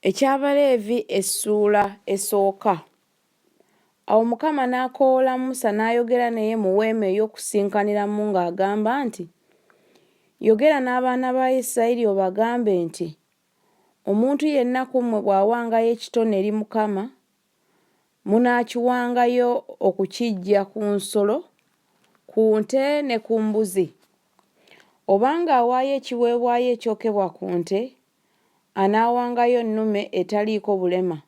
Eky'Abaleevi essuula esooka. Awo Mukama n'akoowoola Musa n'ayogera naye mu weema ey'okusinkaniramu ng'agamba nti, Yogera n'abaana ba Isirayiri obagambe nti, Omuntu yenna ku mmwe bw'awangayo ekitone eri Mukama, munaakiwangayo okukiggya ku nsolo, ku nte ne ku mbuzi. Obanga awaayo ekiweebwayo ekyokebwa ku nte, anaawangayo ennume etaliiko bulema,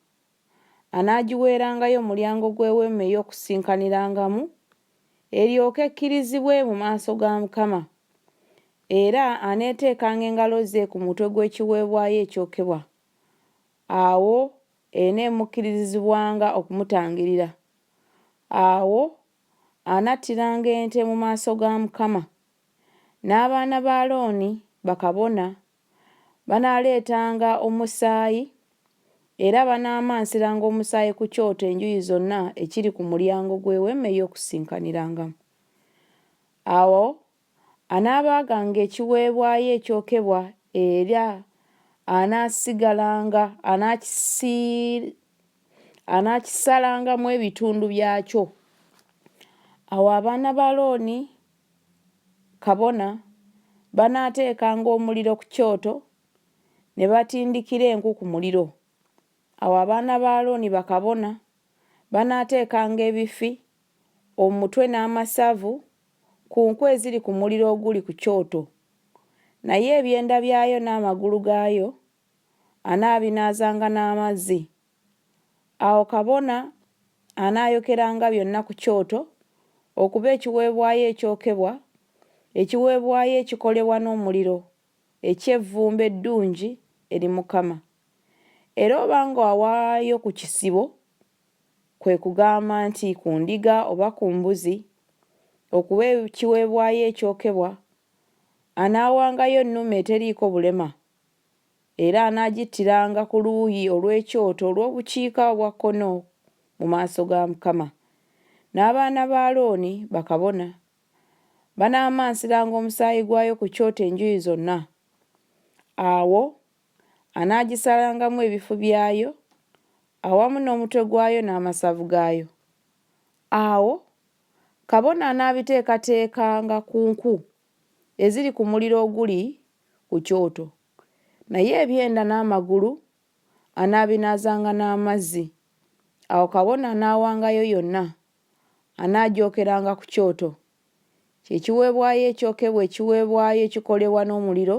anaagiweerangayo mulyango gw'Eweema ey'Okusinkanirangamu, eryoke ekkirizibwe mu maaso ga Mukama. Era aneeteekanga engalo ze ku mutwe gw'ekiweebwayo ekyokebwa, awo eneemukkirizizibwanga okumutangirira. Awo anattiranga ente mu maaso ga Mukama, n'abaana ba Alooni, bakabona, Banaaleetanga omusaayi, era banaamansiranga omusaayi ku kyoto enjuyi zonna ekiri ku mulyango gw'Eweema ey'Okusinkanirangamu. Awo anaabaaganga ekiweebwayo ekyokebwa era anaasigalanga anaakisalangamu ebitundu byakyo. Awo abaana ba Alooni. kabona, banaateekanga omuliro ku kyoto ne batindikira enku ku muliro. Awo abaana ba Alooni bakabona banaateekanga ebifi, omutwe n'amasavu, ku nku eziri ku muliro oguli ku kyoto, naye ebyenda byayo n'amagulu gaayo anaabinaazanga n'amazzi. Awo kabona anaayokeranga byonna ku kyoto okuba ekiweebwayo ekyokebwa, ekiweebwayo ekikolebwa n'omuliro, eky'evvumbe eddungi eri Mukama. Era obanga wawaayo ku kisibo, kwe kugamba nti ku ndiga oba ku mbuzi, okuba ekiweebwayo ekyokebwa, anaawangayo ennume eteriiko bulema Era anaagittiranga ku luuyi olw'ekyoto olw'obukiika obwa kkono mu maaso ga Mukama. N'abaana ba Alooni, bakabona, banaamansiranga omusaayi gwayo ku kyoto enjuyi zonna. Awo anaagisalangamu ebifu byayo, awamu n'omutwe gwayo n'amasavu gaayo. Awo kabona anaabiteekateekanga ku nku eziri ku muliro oguli ku kyoto, naye ebyenda n'amagulu anaabinaazanga n'amazzi. Awo kabona anaawangayo yonna anaagyokeranga ku kyoto. Kye kiweebwayo ekyokebwa ekiweebwayo ekikolebwa n'omuliro,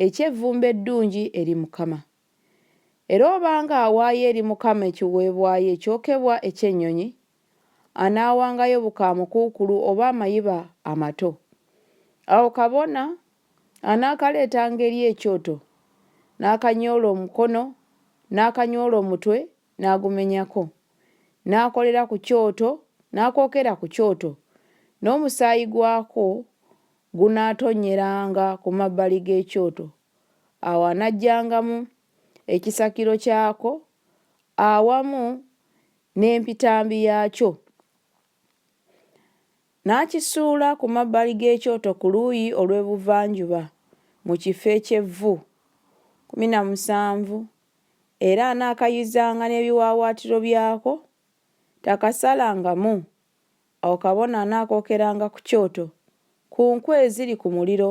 eky'evvumbe eddungi eri Mukama. Era obanga awaayo eri Mukama ekiweebwayo ekyokebwa eky'ennyonyi, anaawangayo bukaamukuukulu oba amayiba amato. Awo kabona anaakaleetanga eri ekyoto, n'akanyoola omukono, n'akanyoola omutwe, n'agumenyako, n'akolera ku kyoto, n'akookera ku kyoto, n'omusaayi gwakwo gunaatonnyeranga ku mabbali g'ekyoto Awo anaggyangamu ekisakiro kyako awamu n'empitambi yaakyo, n'akisuula ku mabbali g'ekyoto ku luuyi olw'ebuvanjuba mu kifo eky'evvu. Kkumi na musanvu Era anaakayuzanga n'ebiwaawaatiro byako, takasalangamu. Awo kabona anaakookeranga ku kyoto, ku nkwi eziri ku muliro